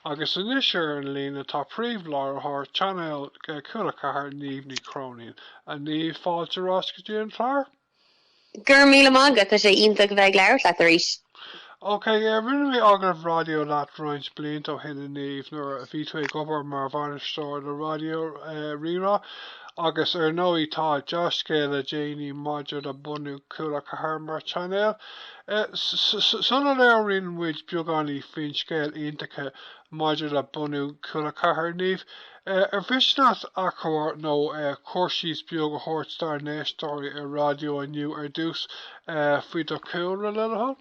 Agus anois ar an líne tá príomhláithreoir chainéal Cúla 4 Niamh Ní Chróinín. A Niamh, fáilte ar ais go dtí an clár. Go raibh míle maith agat, tá sé iontach a bheith ag labhairt leat arís. Ok, rinne mé agallamh raidió leat roinnt blianta ó shin a Niamh nuair a bhí tú ag obair mar bhainisteoir le Raidió Rí-Rá agus ar ndóigh tá deá-scéal le déanaí maidir le bunú Cúla 4 mar chainéal. Sula labhraíonn muid beagáinín faoin scéal iontacha maidir le bunú Cúla Ceathair, Niamh ar mhiste leat achoimre nó cur síos beag a thabhairt dár n-éisteoirí raidió inniu ar dtús faoi do chúlra, le do thoil?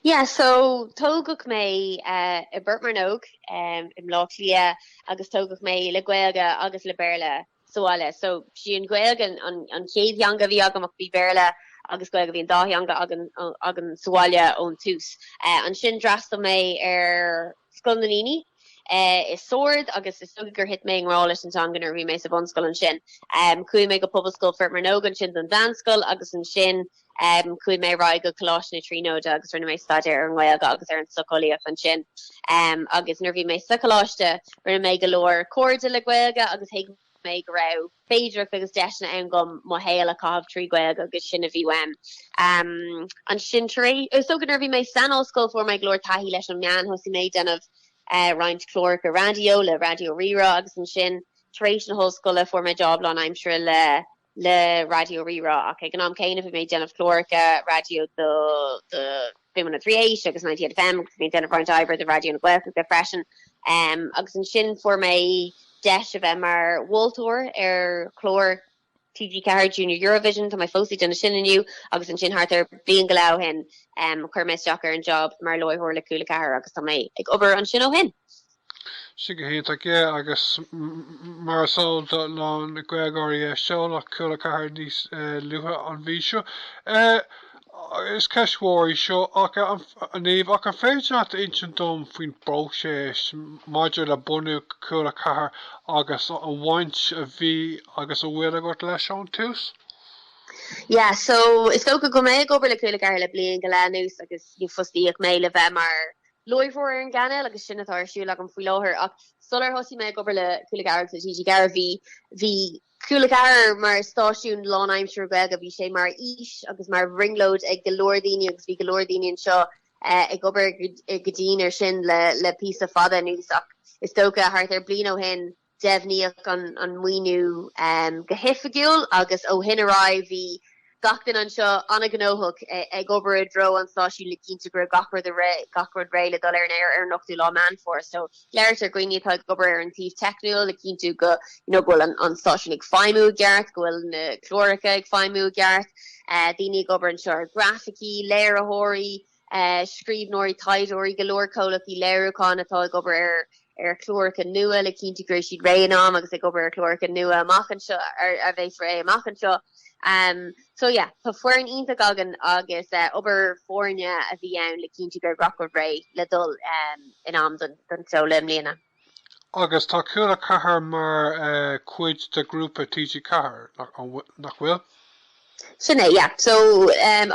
Yeah, so tógadh mé i bPort Mearnóg, i mBleá Cliath, agus tógadh mé le Gaeilge agus le Béarla sa bhaile so sí an Ghaeilge an an chéad theanga a bhí agam ach bhí Béarla agus Gaeilge bhí an dá theanga againn sa bhaile ón tús. Ansin d'fhreastail mé ar Scoil an Duinnínigh i Sord agus is dócha gur thit mé i ngrá leis an teanga nuair a bhí mé sa bhunscoil ansin. Chuaigh mé go Pobalscoil Phort Mearnóg ansin don mheánscoil agus ansin, Chuaigh mé ar aghaidh go Coláiste na Tríonóide agus rinne mé staidéar ar an nGaeilge agus ar an tsocheolaíocht ansin. Agus nuair a bhí mé sa choláiste, rinne mé go leor cairde le Gaeilge agus thuig mé go raibh féidearthacht agus deiseanna ann dhom mo shaol a chaitheamh trí Ghaeilge agus sin a bhí uaim. Ansin tar éis, is dócha nuair a bhí mé san ollscoil, fuair mé go leor taithí leis an meán. Thosaigh mé ag déanamh roinnt cláracha raidió le Raidió Rí-Rá agus ansin tar éis na hollscoile fuair mé job lánaimseartha le le Raidió Rí-Rá ach ag an am céanna bhí mé ag déanamh cláracha raidió do Spin 1038 agus 98FM agus bhí ag déanamh roinnt oibre do Raidió na Gaeltachta freisin um agus ansin fuair mé deis a bheith mar mholtóir ar chlár TG4 Junior Eurovision, tá mé fós ag déanamh sin inniu agus ansin thart ar bliain go leith ó shin um chuir mé isteach ar an job mar láithreoir le Cúla 4 agus tá mé ag obair ansin ó shin. Sin go hiontach ok agus mar is eol do na Gaeilgeoirí seoladh Cúla Ceathair níos luaithe an mhí seo. Is ceist mhór í seo, a Niamh, ach an féidir leat insint dom faoin bpróiseas maidir le bunú Cúla Ceathair agus an bhaint a bhí agus a bhfuil agat leis ón tús? Yeah, so is dócha go bhfuil mé ag obair le Cúla Ceathair le bliain go leith anuas agus fostaíodh mé le bheith mar láithreoir ar an gcainéal agus sin atá ar siúl agam faoi láthair ach sular thosaigh mé ag obair le Cúla Ceathair agus TG4 bhí bhí Cúla Ceathair mar stáisiún lánaimseartha Gaeilge, bhí sé mar fhís agus mar bhrionglóid ag go leor daoine agus bhí go leor daoine anseo ag obair go dian ar sin le le píosa fada anuas ach is dócha thart ar bliain ó shin Deimhníodh an maoiniú go hoifigiúil agus ó shin ar aghaidh bhí gach duine anseo an-ghnóthach ag obair i dtreo an stáisiúin le cinntiú go raibh gach rud réidh le dul ar an aer ar an 8ú lá Meán Fómhair. So labhairt ar dhaoine atá ag obair ar an taobh teicniúil le cinntiú go you know go bhfuil an an stáisiún ag feidhmiú i gceart, go bhfuil na cláracha ag feidhmiú i gceart, daoine ag obair anseo ar graificí, léiritheoirí. scríbhneoirí, taighdeoirí, go leor comhlachtaí léiriúcháin atá ag obair ar chláracha nua le cinntiú go raibh siad réidh in am agus ag obair ar chláracha nua amach anseo a bheas réidh amach anseo. So yeah, tá foireann iontach againn agus obair foirne a bhí ann le cinntiú go raibh gach rud réidh le dul in am don seoladh i mbliana. Agus tá Cúla4 mar chuid de ghrúpa TG4, nach bhfuil? Sin é, yeah. So,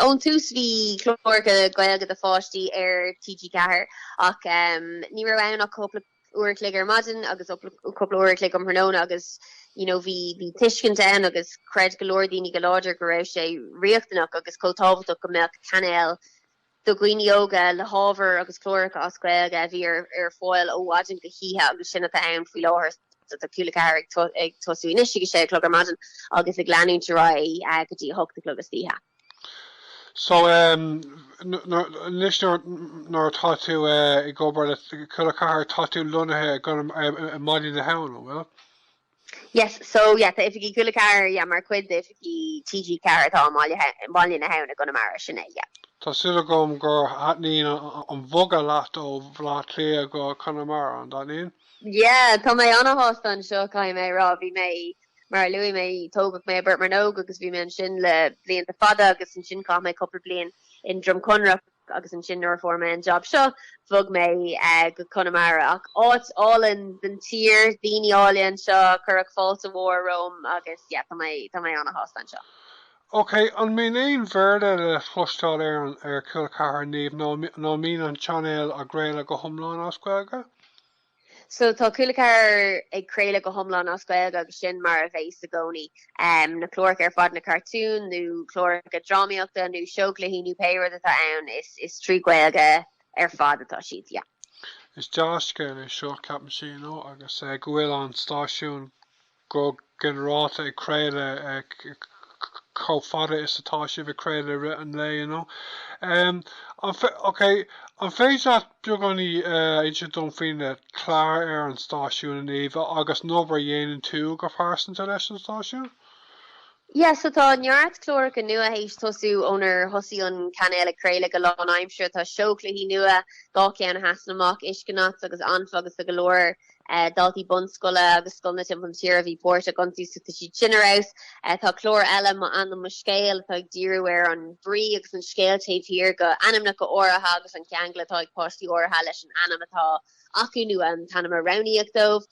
ón tús bhí cláracha Gaeilge do pháistí ar TG4, ach ní raibh ann ach cúpla uair a chloig ar maidin agus cúpla uair a chloig um thráthnóna agus, you know, bhí tuiscint ann agus chreid go leor daoine go láidir go raibh sé riachtanach agus chomh tábhachtach go mbeadh cainéal do dhaoine óga le hábhar agus cláracha as Gaeilge a bhí ar fáil ó mhaidin go hoíche agus sin atá ann faoi láthair. Tá Cúla4 ag tosú anois ag a sé a chlog ar maidin agus ag leanúint ar aghaidh go dtí a hocht a chlog istoíche. So anois nuair atá tú ag obair le Cúla4 tá tú lonnaithe i gConamara i mBaile na hAbhann, an bhfuil? Yes so yeah tá oifigí Cúla4 yeah mar chuid d'oifigí TG4 atá i mBaile na hAbhann i gConamara sin é yeah. Tá súil agam gur thaitníonn an bhogadh leat ó Bhaile Átha Cliath go Conamara, an dtaitníonn? Yeah tá mé ana-shásta anseo caithfidh mé a rá, bhí mé mar a luaigh mé tógadh mé i bPort Mearnóg agus bhí mé ansin le blianta fada agus ansin chaith mé cúpla bliain i nDroim Conrach. agus ansin nuair a fuair mé an jab seo bhog mé go Conamara ach áit álainn den tír, daoine áille anseo, cuireadh fáilte mhór romham agus yeah tá mé tá mé an-shásta anseo. Ok, an mbíonn aon Bhéarla le chloisteáil ar an, ar Cúla4 Niamh nó an mbíonn an chainéal ag craoladh go hiomlán as Gaeilge? So tá Cúla4 ag craoladh go hiomlán as Gaeilge agus sin mar a bheas i gcónaí. Um, na cláracha ar fad na cartúin nó cláracha drámaíochta nó seó cluichí nó pé rud atá ann is, is trí Gaeilge ar fad atá siad yeah. Is dea-scéal é seo, ceapaimse you know, agus uh, go bhfuil an stáisiún go ginearálta ag craoladh chomh fada is atá sibh ag craoladh i rith an lae you know. ok An féidir leat beagáinín a insint dom faoi na cláir ar an stáisiún a Niamh agus an obair a dhéanann tú go pearsanta leis an stáisiún? Yes so tá neart cláracha nua théis tosú ónar thosaigh an cainéal ag craoladh go lánaimseartha. Tá seó cluichí nua, dhá cheann de sin amach, Uiscenauts agus Anfa agus go leor Daltaí bunscoile agus scoileanna timpeall na tíre a bhí páirteach ann so tá siad sin ar fheabhas. Tá clár eile M'Ainm Mo Scéal atá ag díriú ar an brí agus an scéal taobh thiar de ainmneacha áirithe agus an ceangal atá ag páistí áirithe leis an ainm atá acu nó an t-ainm a roghnaíodh dóibh.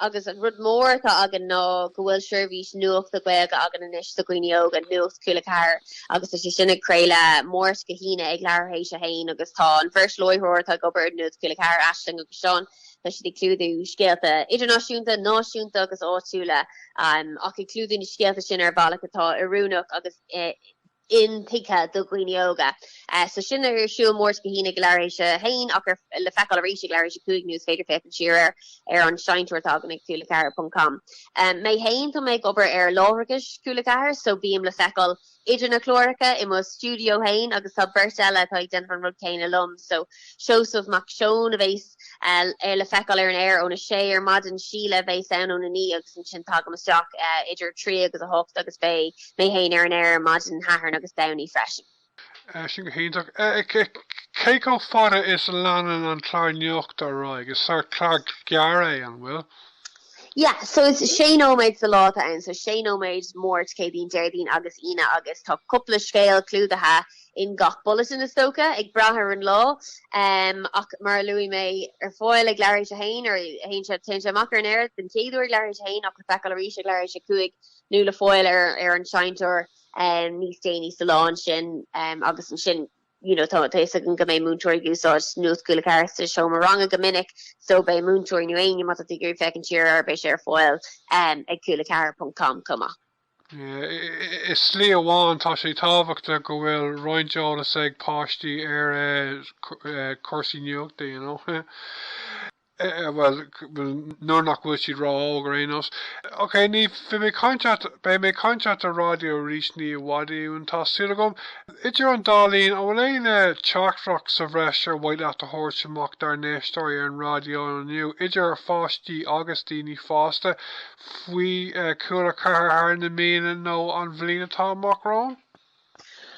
Agus rud mór atá againn ná go bhfuil seirbhís nuachta Gaeilge againn anois do dhaoine óga, Nuacht Cúla 4, agus tá sé sin ag craoladh Máirt go hAoine ag leathuair théis a haon agus tá an bheirt láithreoir atá ag obair ar Nuacht Cúla 4, Aisling agus. Seán, Tá siad ag clúdú scéalta idirnáisiúnta, náisiúnta agus áitiúla ach ag clúdú na scéalta sin ar bhealach atá oiriúnach agus intuigthe do dhaoine óga. So sin ar siúl Máirt go hAoine ag leathuair théis a haon ach le feiceáil arís ag leathuair théis a cúig nó is féidir féachaint siar air ar an seinnteoir atá againn ag cúla ceathair ponc com. Mé fhéin tá mé ag obair ar láithreachais cúla ceathair so bím le feiceáil idir na cláracha i mo stiúideo fhéin agus tá beirt eile atá ag déanamh an rud céanna liom so Seosamh Mac Seoin a bhéas ar le feiceáil ar an aer óna 6 ar maidin, Síle a bhéas ann óna 9 agus ansin tagaim isteach idir a trí agus a hocht agus beidh mé fhéin ar an aer maidin Shathairn agus Domhnaigh freisin. Sin go hiontach. Cé chomh fada is a leanann an clár nuachta ar aghaidh? Is sórt clár gearr é, an bhfuil? Yeah, so is sé nóiméad sa lá atá ann, so sé nóiméad Máirt, Céadaoin, Déardaoin agus Aoine agus tá cúpla scéal clúdaithe in gach bulletin is dócha, ag brath ar an lá. Um ach mar a luaigh mé ar fáil ag leathuair théis a haon ar théann sé téann sé amach ar an aer den chéad uair ag leathuair théis a haon ach le feiceáil arís ag leathuair théis a cúig nó le fáil ar ar an seinnteoir um níos déanaí sa lá ansin um agus ansin you know, tá a fhios agam go mbeidh múinteoirí ag úsáid Nuacht Cúla 4 sa seomra ranga go minic, so beidh múinteoirí nó éinne má tá tú ag iarraidh féachaint siar air beidh sé ar fáil ag cúla 4.com chomh maith. I slí amháin, tá sé tábhachtach go bhfuil roinnt eolas ag páistí ar cúrsaí nuachta, you know. Bhuel, nuair nach bhfuil siad ró óg ar aon nós. Ok, Niamh, beidh mé ag caint leat, beidh mé ag caint leat ar raidió arís ní i bhfad uainn, tá súil agam. Idir an dá linn, an bhfuil aon teachtaireacht sa bhreis ar mhaith leat a thabhairt amach dár n-éisteoirí ar an raidió inniu, idir pháistí agus daoine fásta, faoi Chúla Ceathair thar na míonna nó an bhliain atá amach romhainn?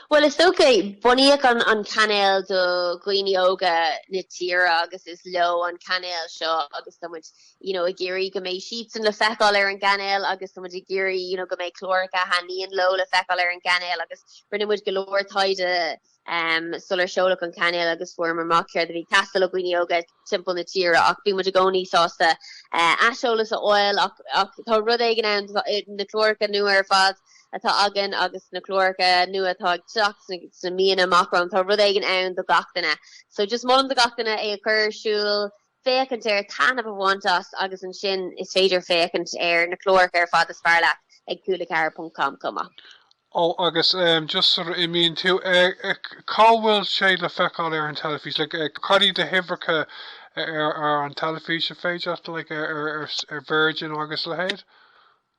Bhuel is dócha, bunaíodh an cainéal do dhaoine óga na tíre agus is leo an cainéal seo agus tá muid you know ag iarraidh go mbeidh siadsan le feiceáil ar an gcainéal agus tá muid ag iarraidh you know go mbeidh cláracha a thaitníonn leo le feiceáil ar an gcainéal agus rinne muid go leor taighde um, sular seoladh an cainéal agus fuaireamar amach céard a bhí ag teastáil ó dhaoine óga timpeall na tíre ach bhí muid i gcónaí sásta aiseolas a fháil ach tá rud éigin ann na cláracha nua ar fad atá againn agus na cláracha nua atá ag teacht sna míonna amach romhainn tá rud éigin ann do gach duine so just molaim do gach duine é a chur ar siúl féachaint air taitneamh a bhaint as agus ansin is féidir féachaint ar na cláracha ar fad is fearr leat ag cúla4.com chomh maith. Ó agus em just sula n-imíonn tú eh eh cá bhfuil sé le feiceáil ar an teilifís like eh cad iad na huimhreacha a ar ar an teilifís is féidir leat like ar ar ar s- ar Virgin agus a leithéid?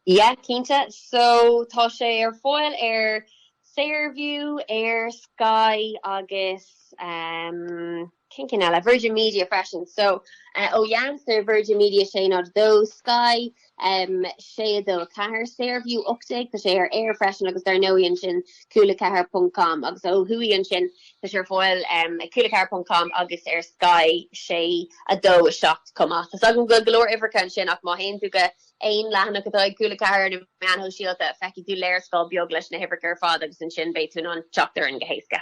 Yeah, cinnte. So tá sé ar fáil ar Saorview, ar Sky agus um, Cé na cinn eile? Virgin Media freisin. So, ó dheas ar Virgin Media 602, Sky 624, Saorview 18, tá sé ar Eir freisin agus dar ndóigh ansin Cúla 4 ponc com agus ó thuaidh ansin tá sé ar fáil ag Cúla 4 ponc com agus ar Sky 624 chomh maith. Tá's agam go leor uimhreacha ansin ach má théann tú go aon leathanach atá ag Cúla 4 ar na meáin shóisialta feicfidh tú léarscáil beag leis na huimhreacha ar fad agus ansin beidh tú in ann teacht orainn go héasca.